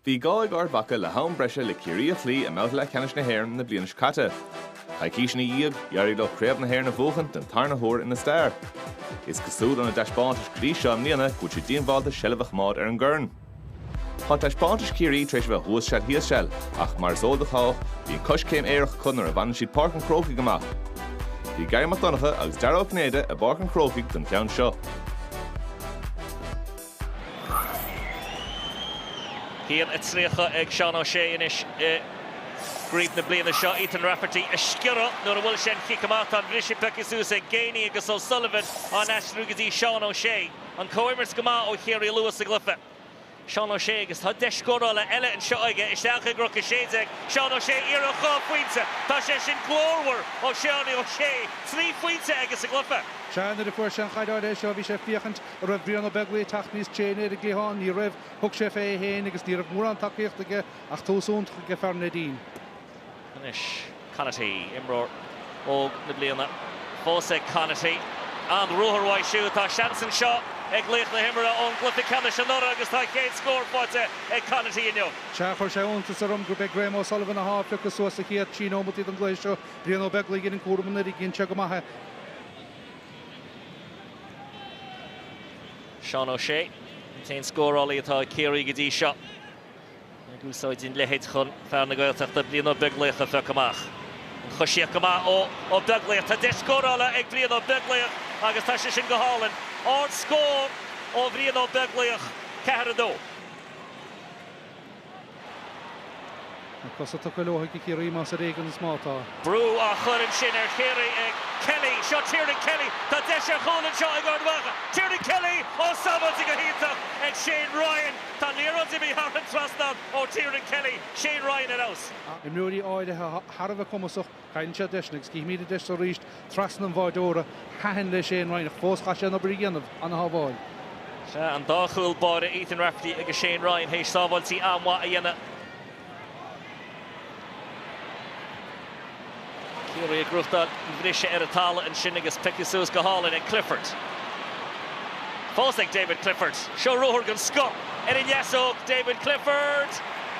Bhí gá ag Ard Mhacha le ham breise le Ciarraí a chloí i mbabhta leathcheannais na hÉireann na bliana seo caite. Coicís ina dhiaidh, d'éirigh leo Craobh na hÉireann a bhuachan den tarna huair ina stair. Is cosúil óna dtaispeántais go dtí seo i mbliana go bhfuil siad díongbhálta seilbh a choimeád ar an gcorn. Tá taispeántais Chiarraí tar éis a bheith thuas seal thíos seal, ach mar is eol do chách, bíonn coiscéim aerach acu nuair a bhaineann siad Páirc an Chrócaigh amach. Bhí Garry Mac Donncha agus Dara Ó Cinnéide i bPáirc an Chrócaigh don cheann seo. 1-30 ag Seán O'Shea anois i gcraobh na bliana seo. Ethan Rafferty ag sciorradh nuair a bhual sé an chic amach. Tá an bhriseadh pioctha suas ag Geaney agus O'Sullivan á n-aistriú go dtí Seán O'Shea. An comhimirt go maith ó Chiarraí luath sa gcluiche. Seán O'Shea agus tá deis scórála eile anseo aige. Isteach ag Cnoc 16, Seán O'Shea iarracht dhá phointe. Tá sé sin glórmhar ó Sheánie O'Shea. Trí phointe aige sa gcluiche. Sea, nuair a fuair sé an chaid ar ais seo bhí sé ag féachaint an raibh Brian Ó Beaglaoich ag teacht níos tréine ar an gcliathán, ní raibh, thug sé fé é féin agus ní raibh mórán tacaíochta aige ach tús iontach aige fear Neidín. Anois Conaty, imreoir óg na bliana fós ag Conaty. An-ruathar uaidh siúd. Tá seans anseo ag laoch na himeartha ón gcluiche ceannais anuraidh agus tá a chéad scór faighte ag Conaty inniu. Sea, chuir sé iontas orm gurb é Graham O'Sullivan atá á phiocadh suas sa chéad trí nóimeataí den gcluiche seo. Brian Ó Beaglaoich a dhein an cúram anuraidh, dhein sé go maith é. Seán O'Shea, an t-aon scórálaí atá ag Ciarraí go dtí seo, ag úsáid an leithid chun fear na Gaeltachta Brian Ó Beaglaoich a phiocadh amach. An choisíocht go maith ó Ó Beaglaoich. Tá deis scórála ag Brian Ó Beaglaoich agus tá sé sin go hálainn. Ardscór ó Bhrian Ó Beaglaoich, 4-2. Na cosa tugtha leo ag Ciarraí más ar éigean is má tá. Brú á chur ansin ar Chiarraí ag Kelly. Seo Tiernan Kelly. Tá deis ar chúl anseo ag Ard Mhacha. Tiernan Kelly ó, sábháilte go hiontach ag Shane Ryan. Tá an liathróid imithe thar an trasnán ó Tiernan Kelly. Shane Ryan ar fheabhas. Imreoirí áirithe thar a bheith cumasach. Caitheann sé deis, agus cífimíd an deis so arís, trasna an bháireora. Thaitin le Shane Ryan, ach fós chaith sé an obair a dhéanamh. Ana-shábháil. Sea, an dá chúl báire Ethan Rafferty agus Shane Ryan théis sábháiltí an-mhaith a dhéanamh. Ciarraí ag gnóthachtáil an bhriseadh ar an talamh ansin agus pioctha suas go hálainn ag Clifford. Fós ag David Clifford. Seo ruathar den scoth ar an ndeasóg, David Clifford!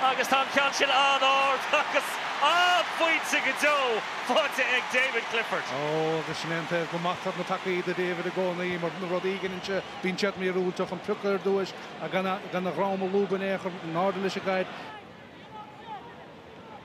Agus tá an ceann sin an-ard agus an-phointe go deo faighte ag David Clifford. Ó, agus sin é an taobh go maitear na peacaí do David i gcónaí, mar na rudaí a dheineann sé bíonn siad míorúilteach an priocadh ar dtúis agus gan a dhroim a lúbadh in aon chor, in airde leis an gcaid.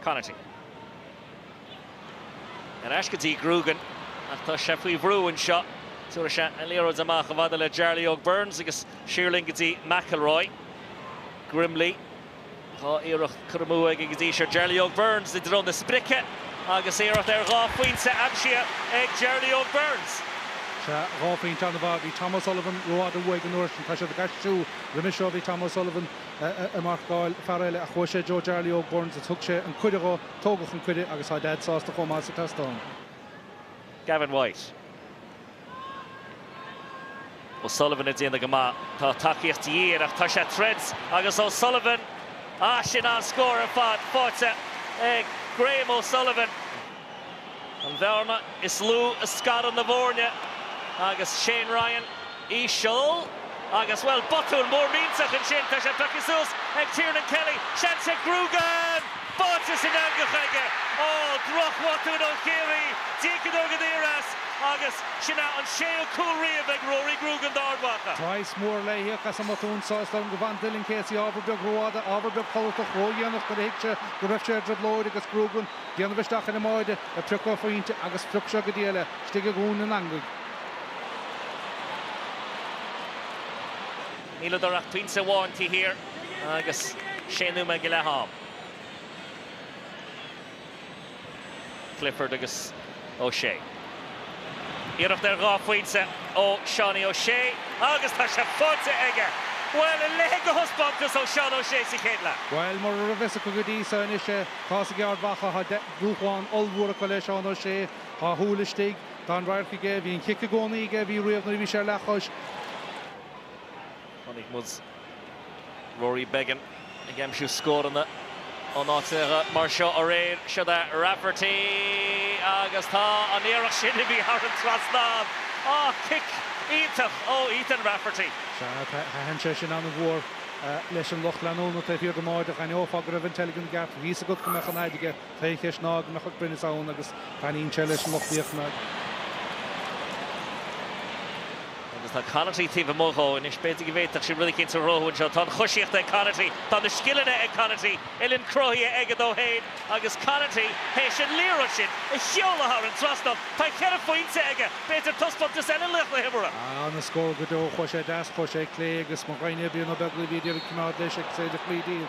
Conaty. Ar ais go dtí Grugan ach tá sé faoi bhrú anseo. Tabharfaidh sé an liathróid amach i bhfad le Jarly Óg Burns agus siar linn go dtí McIlroy. Grimley, dhá iarracht curtha amú aige go dtí seo. Jarly Óg Burns i dtreo na sprice agus iarracht ar dhá phointe aimsithe ag Jarly Óg Burns. Sea, dhá phointe an-mhaith. Bhí Tom O'Sullivan rófhada uaidh an uair sin. Tá siad ag aistriú. Roimhe seo bhí Tom O'Sullivan ag marcáil fear eile ach chuaigh sé i dtreo Jarly Óg Burns agus thug sé an cuireadh dhó. Tógadh an cuireadh agus tá Dad sásta chomh maith is a seastán. Gavin White. O'Sullivan ag déanamh go maith. Tá tacaíocht de dhíth air ach tá sé tríd agus O'Sullivan. Ah, sin an-scór ar fad faighte ag Graham O'Sullivan. An bhearna is lú a scarann na foirne agus Shane Ryan íseal agus, bhuel, botún mór millteach ansin, tá sé pioctha suas ag Tiernan Kelly, seans ag Grugan! Báite san eangach aige! Ó, drochbhotún ó Chiarraí, díocadar go daor as agus sin é an séú cúl riamh ag Rory Grugan d'Ard Mhacha. Praghas mór le híoc as an mbotún seo. Is dóigh liom go bhfan Dylan Casey ábhar beag rófhada, ábhar beag codlatach, ródhéanach nuair a thuig sé go raibh sé i dtrioblóid agus Grugan déanamh isteach ar an mbáide a priocadh pointe agus phrioc sé go díreach istigh i gcúl na heangaí. Níleadar ach pointe amháin taobh thiar agus sé nóiméad go leith ann. Clifford agus. O'Shea. Iarracht ar dhá phointe ó Seánie O'Shea agus tá sé faighte aige! Bhuel, a leithéid de thaispeántas ó Sheán O'Shea sa chéad leath. Bhuel, mura raibh fhios acu go dtí so, anois é. Tá's ag Ard Mhacha, tá dúshlán ollmhór acu le Seán O'Shea. Tá a shúil istigh, tá an radharc aige, bhí an cic i gcónaí aige, bhí riamh nuair a bhí sé ar leathchois. Chonaic muid Rory Beggan ag aimsiú scóranna in áiteacha mar seo aréir. Siod é Rafferty agus tá an iarracht sin imithe thar an trasnán. Á, cic iontach ó Ethan Rafferty. Sea, thaitin sé sin an-mhór leis an lucht leanúna taobh thiar don mbáide. D'aithneofá go raibh an teilgean i gceart. Bhí fhios againn go mbeadh an fhaid aige. Ceist ná go mbeadh an cruinneas ann agus taitníonn sé leis an lucht féachana. Agus tá Conaty taobh amuigh dhó anois, b'fhéidir go bhféadfadh sé rud éicínt a chruthú anseo. Tá an choisíocht ag Conaty, tá na scileanna ag Conaty, uillinn cruthaithe aige dó féin agus Conaty théis an liathróid sin a sheoladh thar an trasnán. Tá cheithre phointe aige, b'fhéidir taispeántas eile laoch na himeartha. Ah, na scóir go deo, chuaigh sé deas, chuaigh sé clé agus mo ghraidhne Brian Ó Beaglaoich, ní féidir coimeád leis agus é ag fluich díobh.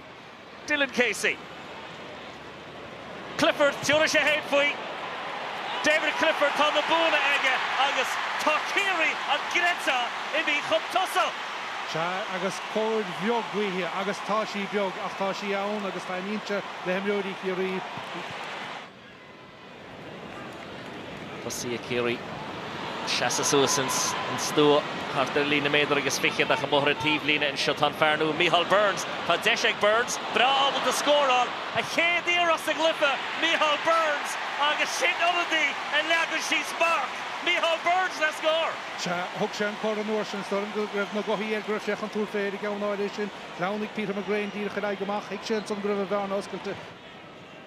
Dylan Casey. Clifford, tiúrfaidh sé fhéin faoi. David Clifford, tá na buanna aige agus tá Ciarraí, an gcreidfeá, imithe chun tosaigh! Sea, agus cóir bheag ghaoithe, agus tá sí beag, ach tá sí ann agus taitníonn sé le himreoirí Chiarraí. Tosaithe Chiarraí ag seasamh suas ins an stua thart ar líne méadar agus fiche ach amuigh ar an taobhlíne anseo tá an fear nua Micheál Burns. Tá deis ag Burns, breá ábalta scóráil, a chéad iarracht sa gcluife, Micheál Burns agus sin ionadaí a leagann síos marc, Micheál Burns le scór! Sea, thug sé an cor an uair sin, is dóigh liom go raibh na gothaí air go raibh sé chun tabhairt fé ar an gceann áirithe sin. Shleamhnaigh Peter McGrane díreach ar aghaidh amach, thuig sé ansan go raibh an bhearna oscailte,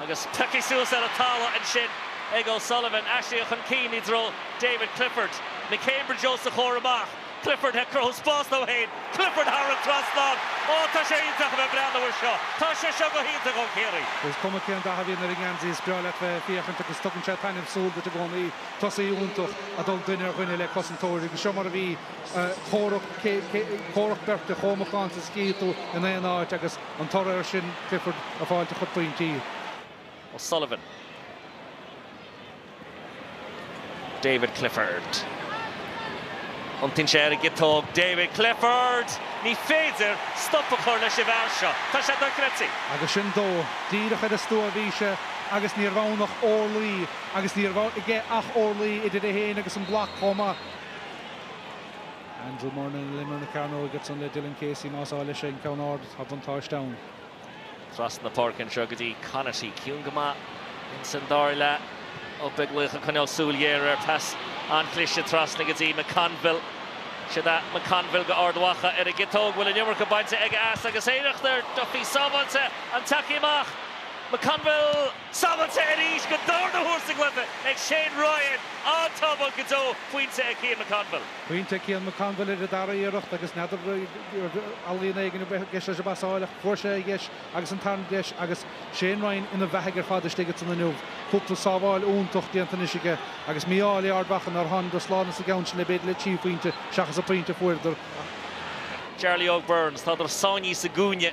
Agus tugtha suas ar an talamh ansin ag O'Sullivan. Aistrithe chun cinn i dtreo David Clifford. McCambridge os a chomhair amach. Clifford ag cruthú spás dó fhéin. Clifford thar an trasnán. Ó tá sé iontach a bheith breathnú air seo. Tá sé seo go hiontach ó Chiarraí. Is cuma cén dath a bhíonn ar an ngeansaí is breá leat bheith ag féachaint agus tugann sé taitneamh súl duit i gcónaí. Tosaí iontach ag dul duine ar dhuine le cosantóir agus seo mar a bhí. Comhrac beirte chomh macánta is a chífidh tú in aon áit agus, an toradh ar sin Clifford ag fáilt a chuid pointí. O'Sullivan. David Clifford. Thiontaigh sé ar an gciotóg. David Clifford! Ní féidir stop a chur leis an bhfear seo. Tá sé dochreidte! Agus sin dó. Díreach ar an stua a bhí sé agus ní raibh ann ach orlaí agus ní raibh aige ach orlaí idir é féin agus an bloc chomh maith. Andrew Murnin ar imeall na cearnóige ansin le Dylan Casey más áil leis an ceann ard tá buntáiste ann. Trasna na páirce anseo go dtí Conaty. Ciúin go maith in san dara leath. Ó Beaglaoich ag coinneáil súil ghéar air. Pas an-chliste trasna go dtí McConville. Siúd é McConville go Ard Mhacha ar an gciotóg. Bhfuil an iomarca bainte aige as agus iarracht ar Duffy sábháilte ann. Tagtha amach McConville! Sábháilte arís don darna huair sa gcluife ag Shane Ryan, an-tsábháil go deo pointe ag Cian McConville. Pointe ag Cian McConville ar an dara iarracht agus n'fheadar ar ealaín éigin a bheith i gceist leis an bpasáil ach fuair sé a dheis agus an tarna deis agus Shane Ryan ina bheathaidh ar fad istigh ansan inniu. Cúpla sábháil iontach déanta anois aige agus mí-ádh ag Ard Mhacha nár thángadar slán as an gceann sin le b'fhéidir le trí phointe seachas an pointe a fuaireadar ach Jarly Óg Burns, tádar sáinnithe sa gcúinne.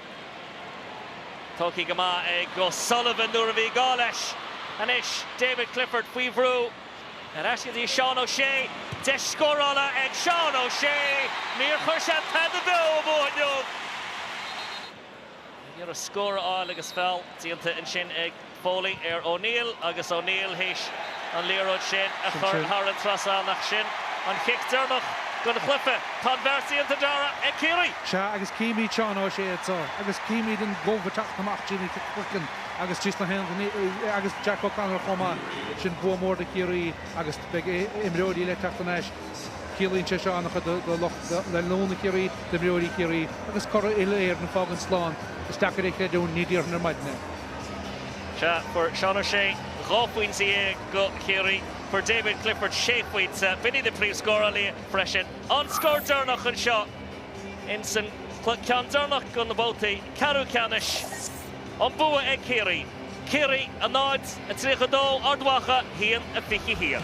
Tógtha go maith ag O'Sullivan nuair a bhí gá leis. Anois David Clifford faoi bhrú. Ar ais go dtí Seán O'Shea. Deis scórála ag Seán O'Shea. Níor chuir sé tada beo amú inniu. Ní raibh scór ar fáil agus feall déanta ansin ag Foley ar O'Neill agus O'Neill théis an liathróid sin a chur thar an trasán ach sin an cic deireanach don chluiche. Tá an beart déanta Darragh ag Ciarraí. Sea agus címid Seán Ó Sé anseo agus címid an Gooch ag teacht amach trí na cloigeann agus trí sna haon agus Jack O'Connor chomh maith. Sin bua mór do Chiarraí agus beidh imreoirí le teacht anois. Ciallaíonn sé seo an-chuid do lucht leanúna Chiarraí, d'imreoirí Chiarraí agus curaidh uile-Éireann ag fágaint slán. Is deacair é a chreidiúint, ní déarfainn ar maidin é. Sea, fuair Seán Ó Sé dhá phointe dhéag go Chiarraí, fuair David Clifford sé phointe, b'in iad na príomh scórálaithe freisin. An scór deireanach anseo in san ceann deireanach do na babhtaí ceathrú ceannais. An bua ag Ciarraí. Ciarraí a náid a tríocha dó, Ard Mhacha haon a fiche haon.